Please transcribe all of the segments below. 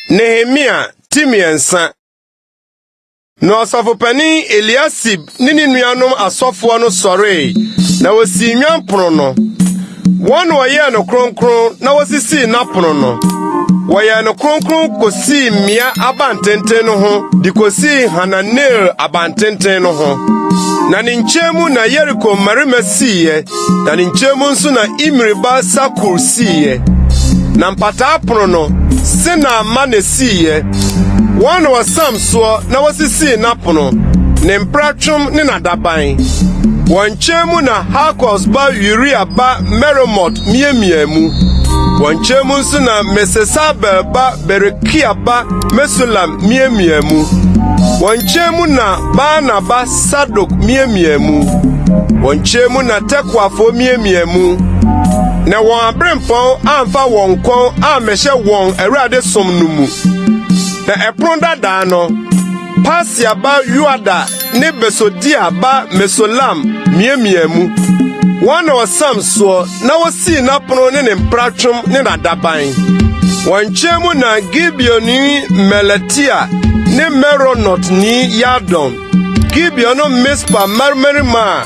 Nehemia ti mmiɛnsa na ɔsɔfopanin Eliasib ne ne nuanom asɔfoɔ no sɔree na wɔsii nnwanpono no. Wɔn na wɔyɛɛ no kronkron na wɔsisii n'apono no. Wɔyɛɛ no kronkron kosii mmea abantenten no ho de kosii Hananel abantenten no ho. Na ne nkyɛn mu na Yeriko mmarima siiɛ, na ne nkyɛn mu nso na Imri ba Sakur siiɛ. Na mpataa pono no, Sena mma na esiiɛ. Wɔn na wɔsam soɔ na wɔsisii n'apono, ne mpratwom ne n'adaban. Wɔn nkyɛn mu na Hakos ba Uria ba Meremot miamiaa mu. Wɔn nkyɛn mu nso na Mesesabel ba Berekia ba Mesulam miamiaa mu. Wɔn nkyɛn mu na Baana ba Sadok miamiaa mu. Wɔn nkyɛn mu na Tekoafoɔ miamiaa mu. Na wɔn aberempɔn amfa wɔn kɔn ammɛhyɛ wɔn Awurade som no mu. Na ɛpono dadaa no, Pasia ba Yoada ne Besodia ba Mesolam miamiaa mu. Wɔn na wɔsam soɔ na wosii n'apono ne ne mpratwom ne n'adaban. Wɔn nkyɛn mu na Gibeoni Melatia ne Meronotni Yadon, Gibeon no Mispa mmarima a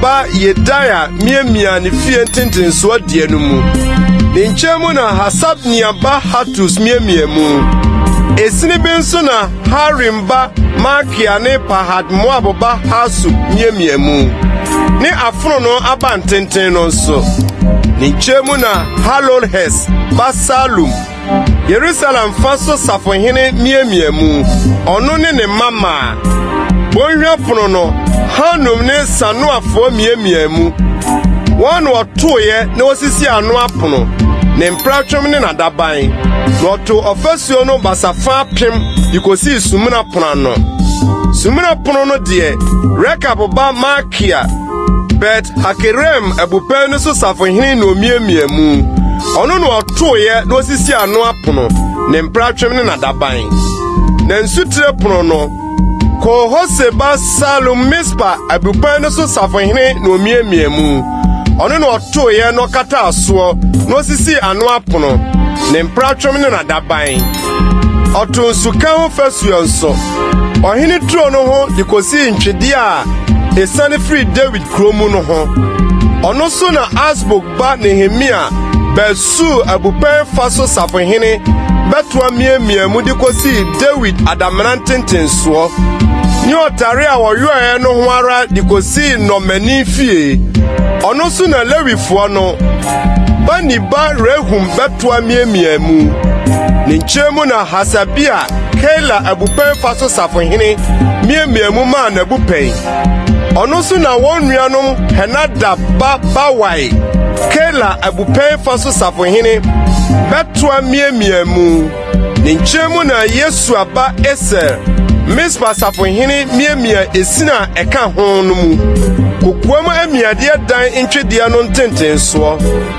ba Yedaia miamiaa ne fie ntentensoɔ deɛ no mu. Ne nkyɛn mu na Hasabnia ba Hatus miamia mu. Esini bi nso na Harim ba Malkia ne Pahat-Moab ba Hasub miamia mu, ne afononoo abantenten no nso. Ne nkyɛn mu na Halolhes ba Salum Yerusalem fa so safohene miamia mu, ɔno ne ne mma maa. Bɔnhwa pono no, Hanum ne Sanoafoɔ miamia mu. Wɔn na wɔtoeɛ na wɔsisi ano apono, ne mpratwom ne n'adaban. Na wɔtoo ɔfasuo no basafa apem de kɔsii Sumina Pono ano. Sumina Pono no deɛ, Rekab ba Malkia Bet Hakerem abupɛn no so safohene na omiamia mu. Ɔno na ɔtoeɛ na osisi ano apono, ne mpratwem ne n'adaban. Na nsutire pono no, Kohose ba Salum Mispa abupɛn no so safohene na omiamia mu. Ɔno na ɔtoeɛ na ɔkataa soɔ na osisi ano apono, ne mpratwem ne n'adaban. Ɔto nsuka ho fasuo nso. ɔhene turo no ho de kosii ntwede a esiane firi Dawid kurow mu no ho. Ɔno so na Asbuk ba Nehemia bɛɛ Sur abupɛn fa so safohene bɛtoa miamia mu de kosii Dawid adamena ntentensoɔ ne ɔtare a wɔyɔɛɛ no ho ara de kosii nnɔmmani fie. Ɔno so na Lewifoɔ no Bani ba Rehum bɛtoa miamia mu. Ne nkyɛn mu na Hasabia Keila abupɛn fa so safohene miamiaa mu maa n'abupɛn. Ɔno nso na wɔn nuanom Henadab ba Bawai, Keila abupɛn fa so safohene, bɛtoa miamiaa mu. Ne nkyɛn mu na Yesua ba Eser, Mispa safohene miamia esin a ɛka ho no mu. Kokoam amiadeɛ dan ntwedeɛ no ntentensoɔ.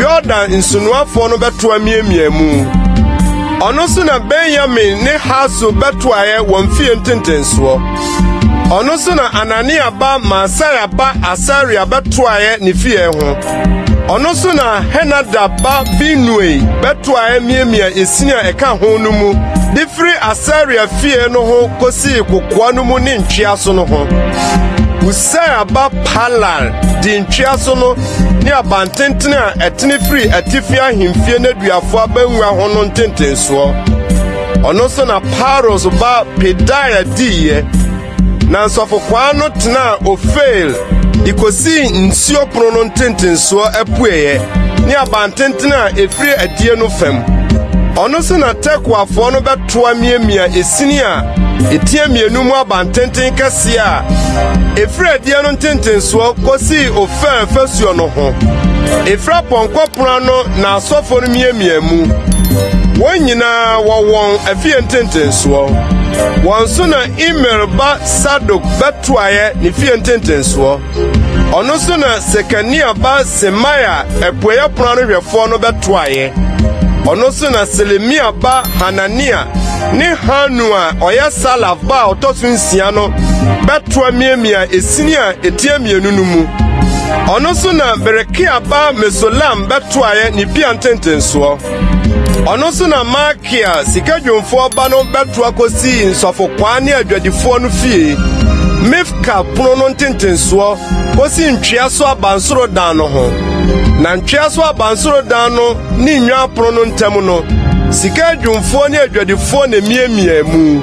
Yordan nsunoafoɔ no bɛtoa miamiaa mu. Ɔno so na Benyamin ne Hasor bɛtoaeɛ wɔn fie ntentensoɔ. Ɔno so na Anania ba Maasaia ba Asaria bɛtoaeɛ ne fie ho. Ɔno so na Henadab ba Binui bɛtoaeɛ miamia esin a ɛka ho no mu de firi Asaria fie no ho kɔsii kokoa no mu ne ntwea so no ho. Usaia ba Palal di ntwea so no ne abantenten a ɛtene firi atifi ahemfie no aduafo abangua ho no ntentensoɔ. Ɔno nso na Paros ba Pedaia diiɛ, na nsɔfokwaa no tenaa Ofel de kɔsii nsuo pono no ntentensoɔ apueeɛ ne abantenten a ɛfiri adie no fam. Ɔno nso na Tekoafoɔ no bɛ to amiamia esini a etia mmienu mu abantenten kɛseɛ a ɛfiri adiɛ no ntentensoɔ kɔsii ofɛn fasuo no ho ɛfiri apɔnkɔ pono ano na asɔfoɔ no miamia mu wɔn nyinaa wɔ wɔn afie ntentensoɔ wɔn so na imer ba sadok bɛtoaeɛ ne fie ntentensoɔ Ɔno so na Sekania ba Semaia apueɛ ɛpono ano hwɛfoɔ no bɛtoaeɛ. Ɔno so na Selemia ba Hanania ne Hanu a ɔyɛ Salaf ba a ɔtɔ so nsia no bɛtoa miamia esini a ɛtia mmienu no mu. Ɔno so na Berekia ba Mesolam bɛtoaeɛ ne pia ntentensoɔ. Ɔno so na Malkia sika dwumfoɔ ba no bɛto akɔsii nsɔfokwaa ne adwadifoɔ no fie, Mifka pono no ntentensoɔ kɔsi ntwea so abansoro dan no ho. Na ntwea so abansoro dan no ne nnwan pono no ntam no, sika adwumfoɔ ne adwadifoɔ na emiamia mu.